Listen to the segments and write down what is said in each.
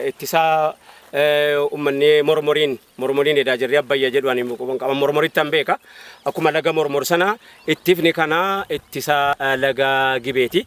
ittisaa ummanni mormoriin mormoriin edaa jirri abbayya jedhu ani quban qaba mormorittan beeka akkuma laga mormor sana ittifni kana ittisa laga gibeeti.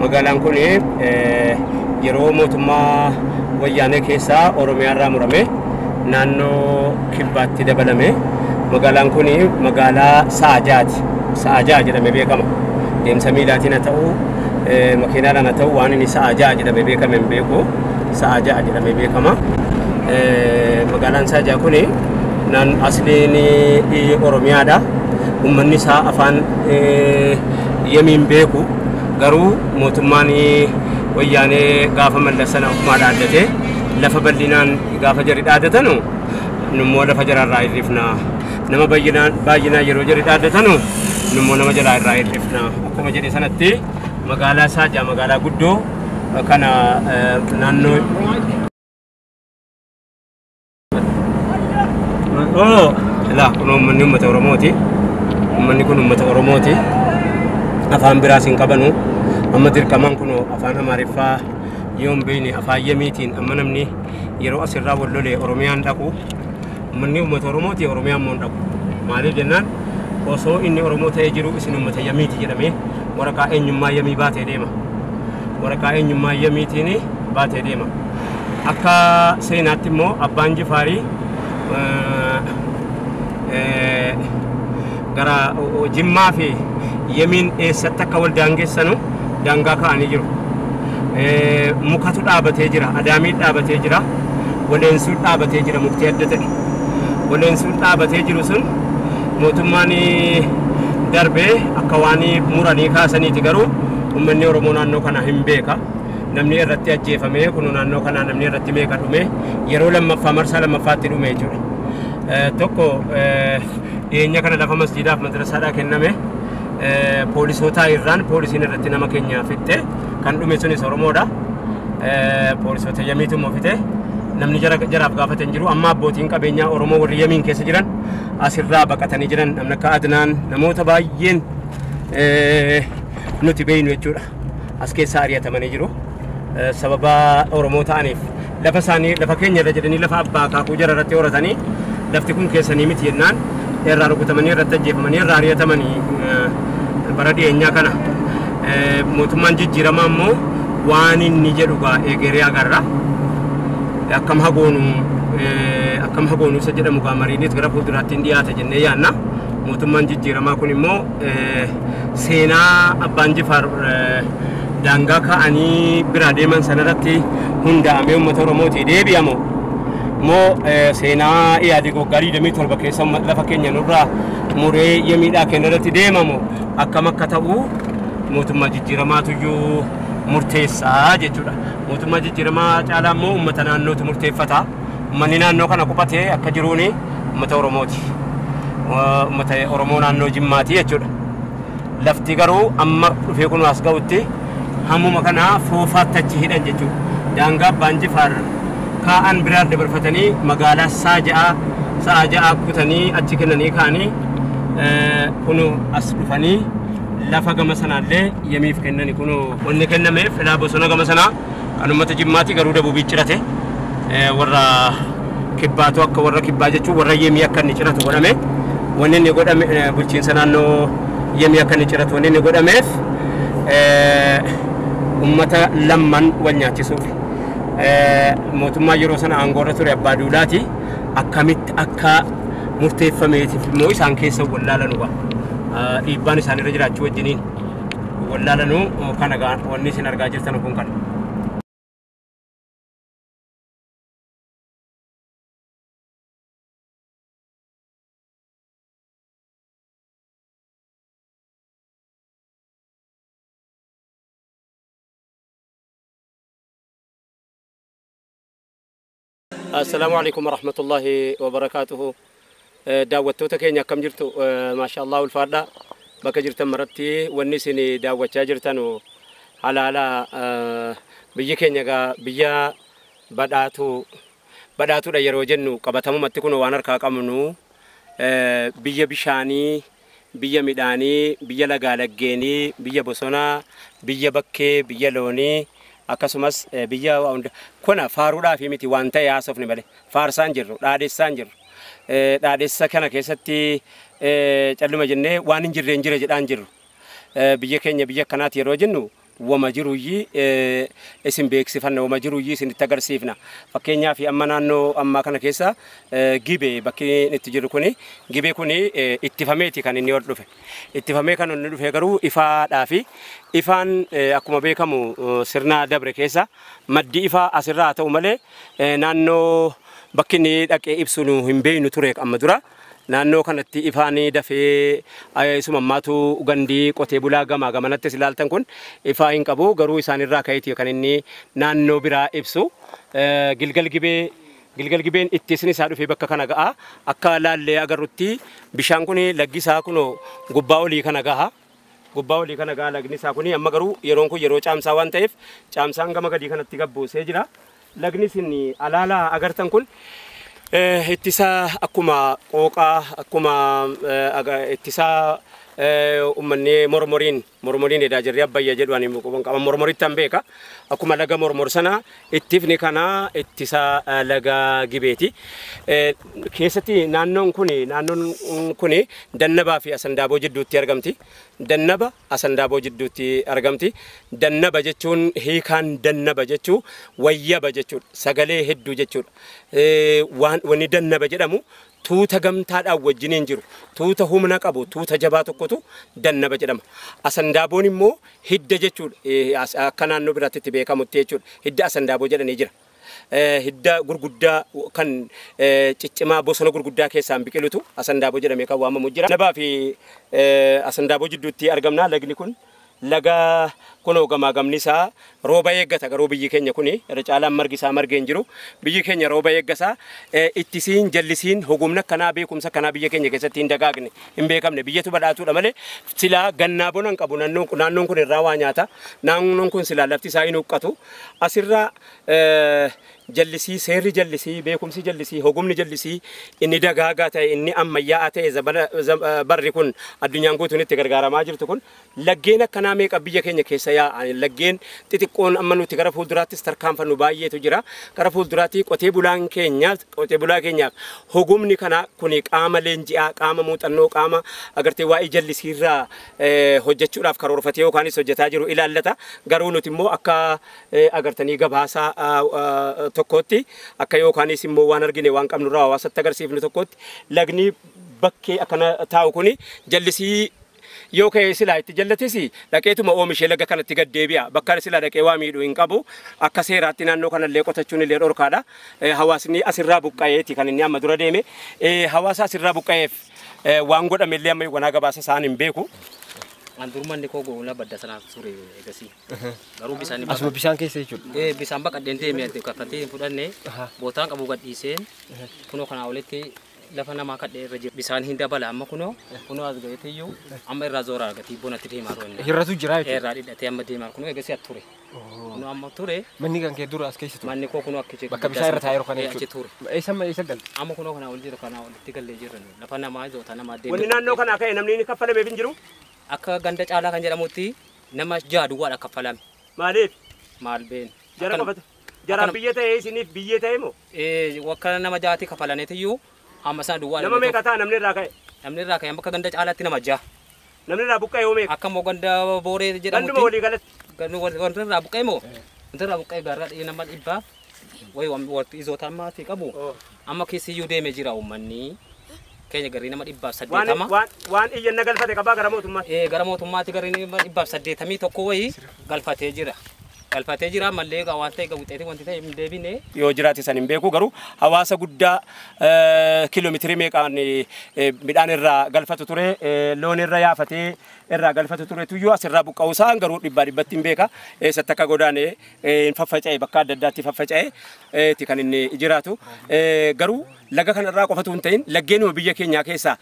Magaalaan kun yeroo mootummaa wayyaanee keessaa Oromiyaarraa murame naannoo kibbaatti dabalame. Magaalaan kun magaalaa sa'a ja'aati. Sa'a ja'a jedhamee beekama. Deemsa miilaatiin haa ta'u, makiinaadhaan haa ta'u waan inni sa'a ja'a jedhamee beekame hin beeku. Sa'aa ja'a jedhamee beekama. Magaalaan Sa'aa ja'a kun asliin Oromiyaadha. Uummanni isaa afaan yamiin beeku garuu mootummaan wayyaanee gaafa mallassana ofumaa dhaaddatee lafa bal'inaan gaafa jari dhaaddatanu nummoo lafa jararraa hir'ifna. Nama baay'inaan yeroo jari dhaaddatanu nummoo nama jalaa irraa hir'ifna. Akkuma jedhe sanatti. Magaalaa Saajaa magaalaa guddoo kana naannoo Oh, laa kun uummanni uummata Oromooti. Uummanni kun uummata Oromooti. Afaan biraas hin qabanu. Amma dirqamaan kun afaan Amaariffaa yoo hin beekne afaan Yemiitiin amma namni yeroo asirraa wal lolee Oromiyaan dhaqu Ummanni ummata Oromooti, Oromiyaa immoo hin dhabu. Maaliif jennaan osoo inni Oromoo ta'ee jiruu isin ummata Yamiiti jedhamee waraqaa eenyummaa Yamii baatee deema. Waraqaa eenyummaa Yamiitiin baatee deema. Akka seenaatti immoo Abbaan Jifaarii eh, eh, gara Jimmaa fi Yemiin eessatti akka wal daangessanu daangaa kaa'anii jiru. Mukatu dhaabatee jira, adaamiin dhaabatee jira, waleensuun dhaabatee jira mukti adda ta'e. Waleensuun dhaabatee jiru sun mootummaan darbee akka waan muranii kaasaniiti garuu uummanni Oromoo naannoo kana hin beeka. Namni irratti ajjeefamee kun naannoo kanaa namni irratti meeqa dhume yeroo lammaffaa marsaa lammaffaatti dhume jechuudha. Tokko Dhiyeenya kana lafa masjiidaaf madrasaadhaa kenname poolisootaa irraan poolisiin irratti nama keenya fixxe kan dhume sunis Oromoodha. Poolisoota yamiitu immoo fixe namni jara jaraaf gaafate hin jiru. Amma abbootiin qabeenyaa Oromoo warri yamiin keessa jiran asirraa baqatanii jiran namni akka Adnaan namoota baay'een nuti beeynu jechuudha. as keessaa ari'atamanii jiru. Eh, Sababa Oromoo ta'aniif lafa isaanii lafa keenya irra jedhanii lafa abbaa akaakuu jara irratti horatanii lafti kun keessanii miti jennaan irraa rukutamanii irratti ajjeefamanii irraa ari'atamanii eh, bara dhiyeenyaa kana eh, mootummaan jijjiiramaa immoo waan inni jedhu gaa eegeree agarra. akkam hagoonu eh, akkam hagoonu isa jedhamu gaa mariinis gara fuulduraatti hin dhiyaata jennee yaanna mootummaan jijjiiramaa kun immoo seenaa abbaan jifaar daangaa kaa'anii biraa deeman sanarratti hundaa'amee uummata oromootii deebi'amu moo seenaa iyaadii waggaa 27 keessa lafa keenya nurraa muree iyya miidhaa keenya irratti deemamu akkam akka ta'u mootummaa jijjiiramaatuyyuu murteessaa jechuudha mootummaa jijjiiramaa caalaa immoo uummata naannootu murteeffata. Ummanni naannoo kana qubate akka jiruun ummata Oromooti. Ummata Oromoo naannoo Jimmaati jechuudha. Lafti garuu amma dhufee kun as ga'utti hammuma kana foofaatti achi hidhan jechuudha. Daangaa Abbaan Jifaar kaa'an biraan dabarfatanii magaalaa saa ja'a sa'a ja'a kutanii achi kennanii ka'anii kun as dhufanii lafa gama sanaallee yemiif kennani kun wanni kennameef ilaa bosona gama sanaa Kan uummata Jimmaati garuu dabubii cirate warra kibbaatu akka warra kibbaa jechuun warra yemii akka inni ciratu godhame wanni inni godhame bulchiinsa naannoo yemii akka inni ciratu wanni inni godhameef uummata lamman wal nyaachisuuf mootummaa yeroo sana aangoorra ture abbaa duulaati akkamitti akka murteeffameetiif immoo isaan keessa wallaalanudha dhiibbaan isaanirra jiraachuu wajjiniin. wallaalanuu kana gaa wanni isin argaa jirtan kun kana. Assalaamu Aleykum Warahmatullaahi Wabarakaatuhu. Daawwattoota keenya akkam jirtu? Maashaallah ulfaadha. Bakka jirtan maratti wanni isin daawwachaa jirtanu halaala biyyi keenya egaa biyya badhaatu badhaatudha yeroo jennu qabatamumatti kun waan harkaa qabnu biyya bishaanii biyya midhaanii, biyya lagaa laggeenii, biyya bosonaa, biyya bakkee, biyya loonii, akkasumas biyya waa hunda kuna faaruudhaaf miti waan ta'e haasofne malee faarsaan jirru dhaadhessaan jirru dhaadhessa kana keessatti calluma jennee waan hin jirreen jira jedhaan jirru biyya keenya biyya akkanaati yeroo jennu wama jiruyyii isin beeksifanna, wama jiruyyii isinitti agarsiifna. Fakkeenyaaf amma naannoo ammaa kana keessa gibe bakki itti jiru kuni gibe kuni ittifameeti kan inni ol dhufe. Ittifamee kan inni dhufe garuu ifaadhaa fi ifaan akkuma beekamu sirna dabre keessa maddi ifaa asirraa haa ta'u malee naannoo bakki inni dhaqee ibsu nu hin beeknu ture amma dura. Naannoo kanatti ifaan dafee isuma ammaatu gandi qotee bulaa gamaa gamanattis ilaaltan kun ifaa hin qabu garuu isaan irraa ka'eeti kan inni naannoo biraa ibsu Gilgal Gibee Gilgal Gibeen ittisin isaa dhufee bakka kana ga'a akka laallee agarrutti bishaan kun laggi isaa kunoo gubbaa olii kana gaha. gubbaa olii kana gaa lagni isaa kuni amma garuu yeroon kun yeroo caamsaa waan ta'eef caamsaan gama gadii kanatti gabbuusee jira. Lagni isin alaala agartan kun eh, ittisaa akkuma qooqaa akkuma eh, aga- ittisaa eh, ummanni mormoriin mormoriin edaa jirri abbayya jedhu ani quban qaban mormoritti an beeka akkuma laga mormor sana Ittifni kanaa ittisa laga Gibeeti. Keessatti naannoon kun naannoon kun Dannabaa fi Asandaaboo jidduutti argamti. Dannaba Asandaaboo jidduutti argamti. Dannaba jechuun hiikaan dannaba jechuu wayyaba jechuudha. Sagalee hedduu jechuudha. Wanni dannaba jedhamu tuuta gamtaadhaan wajjiniin jiru, tuuta humna qabu, tuuta jabaa tokkotu dannaba jedhama. Asandaaboon immoo hidda jechuudha. Eh, as- Akka naannoo biraatti itti beekamutti jechuudha. Hidda asandaaboo jedhanii jira. Eh, Hidda gurguddaa kan eh, ciccimaa bosona gurguddaa keessaan biqilutu asandaaboo jedhamee kan waamamu jira. Dannabaa fi eh, asandaaboo jidduutti argamna lagni kun. Laga kunoo gamaagamni isaa rooba eeggata garuu biyyi keenya kuni irra caalaan margi isaa margee hin jiru. Biyyi keenya rooba eeggasa. Ittisiin, jallisiin, hogumni akkanaa, beekumsa akkanaa biyya keenya keessatti hin dagaagne, hin beekamne. Biyyatu badhaatuudha malee silaa gannaa bona hin qabu nannoon kun. Naannoon kun irraa waa nyaata. Naannoon kun silaa lafti isaa hin huqqatu. Asirra jallisii, seerri jallisii, beekumsi jallisii, hogumni jallisii inni dagaagaa ta'e, inni ammayyaa'aa ta'e zabana barri kun addunyaan guutuun itti gargaaramaa jirtu kun Laggeen akkanaa meeqa biyya keenya keessa yaa'a. Laggeen xixiqqoon amma nuti gara fuulduraattis tarkaanfannu baay'eetu jira. Gara fuulduraatti qotee bulaan keenya qotee bulaa keenyaaf hogumni kana kuni qaama leenji'aa, qaama muuxannoo, qaama agartee waa'ee jallisiirraa hojjechuudhaaf karoorfatee yookaanis hojjetaa jiru ilaallata. Garuu nuti immoo akka agartanii gabaasa tokkootti akka yookaanis immoo waan argine waan qabnurraa hawaasatti agarsiifnu tokkootti lagni bakkee akkana taa'u kuni jallisii Yoo ka'e silaa itti jallatis dhaqeetuma oomishee laga kanatti gad deebi'a. Bakka silaa dhaqee waa miidhu hin qabu. Akka seeraatti naannoo kanallee qotachuun illee dhorkaadha. Hawaasni asirraa buqqa'eeti kan inni amma dura deeme. Hawaasa asirraa buqqa'eef waan godhame illee amma yoonaa gabaasa isaa ani hin beeku. An durmanni koo goolaa badda sanaa ture egasii. Garuu bisaan Asuma bisaan keessa jechuudha. Eh, bisaan baqadheen deemee kaffaltii hin fudhanne bootaan qabu gadhiiseen kunoo kanaa olitti lafa namaa kadhee irra jira. Bisaan hin dabala amma kunoo kunoo as ga'eetiyyuu amma irraa zoora argati bonatti deemaa roonna. Hir'atu jira jechuudha. Irraa dhidhatee amma deemaa kunoo eegasii at ture. Kunoo amma ture Manni kan kee dura as keessa ture. manni koo kunoo akka jechuudha. Bakka bishaan irra taa'ee jiru kana Achi ture. jechuudha. Eessa amma eessa galte? Amma kunoo kanaa ol jira kanaa olitti gallee jirra nu. lafa namaa zoota namaa Wanni deemee. naannoo kanaa ka'e namni inni kaffalameef hin jiru. Akka ganda caalaa kan jedhamutti nama jaha duwwaadha kaffalame. Maaliif? Maal beenu. Jara Akka- qofatu. Jaraaf Akkana- biyya ta'e isiniif biyyee ta'e moo? Eh, Wakka nama jaati kafalaniitiyyuu amma sana duwwaa Nama meeqa ta'a namni irraa ka'e? namni irraa ka'e amma akka ganda caalaatti nama jaha. Namni irraa buqqa'e hoo meeqa? Akka immoo ganda booree Ganduma jedhamutti walii galatti. ganda wanti wanti irraa buqqa'e moo wanti irraa buqqa'e gaarraa dhi'ee nama dhibbaaf wayi wanti izoota ammaa fi qabu Amma keessiyyuu deeme jira uummanni keenya garrii nama dhibbaaf Waan, saddeetama. waan, waan iyyanna galfate qabaa gara mootummaatti. Eh, gara mootummaatti garri nama dhibbaaf saddeetamii tokko wayii galfatee jira. Galfatee jira mallee egaa waan ta'e egaa wuxxeetii wanti ta'e hin deebine. yoo jiraate san hin beeku garuu hawaasa guddaa eh, kiiloomeetirii meeqaan eh, eh, midhaan irraa galfatu ture eh, loon irra yaafatee irraa galfatu ture tuyyuu asirraa buqqa'uu isaan garuu dhibbaa dhibbatti hin beeka eessatti akka godaane hin faffaca'e bakka adda addaatti faffaca'e ti kan inni jiraatu. Garuu laga kana irraa qofatu hin ta'in laggeenuma biyya keenyaa keessaa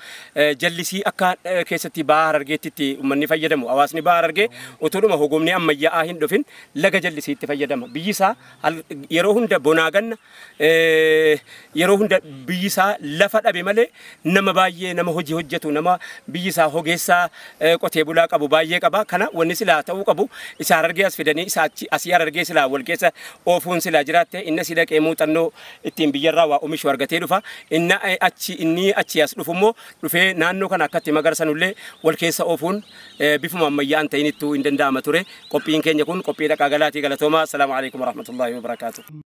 jallisii akka keessatti bahaa harargeetti itti uummanni fayyadamu. Hawaasni bahaa harargee utuudhuma hogomni ammayyaa'aa hin dhufin laga jallisiitti fayyadama. Biyyi isaa yeroo hunda bonaa ganna yeroo hunda biyyi isaa lafa dhabe malee nama baay'ee nama hojii hojjetu nama biyyi isaa hogeessaa qotee bulaa qabu baay'ee qaba. Kana wanni silaa ta'uu qabu isa harargee as fidanii isa achi asii harargee silaa wal keessa oofuun silaa jiraatte inni asii dhaqee muuxannoo ittiin biyyarraa waa omishu argatee dhufa. Inni achi inni achi as dhufu immoo dhufee naannoo kana akkatti magarsanullee wal keessa oofuun bifuma ammayyaa'an ta'inittuu hin danda'ama ture. Qophiin keenya kun qophii dhaqaa galaatii galatoomaa. Assalaamu alaikum warahmatullaahi wabarakaatuh.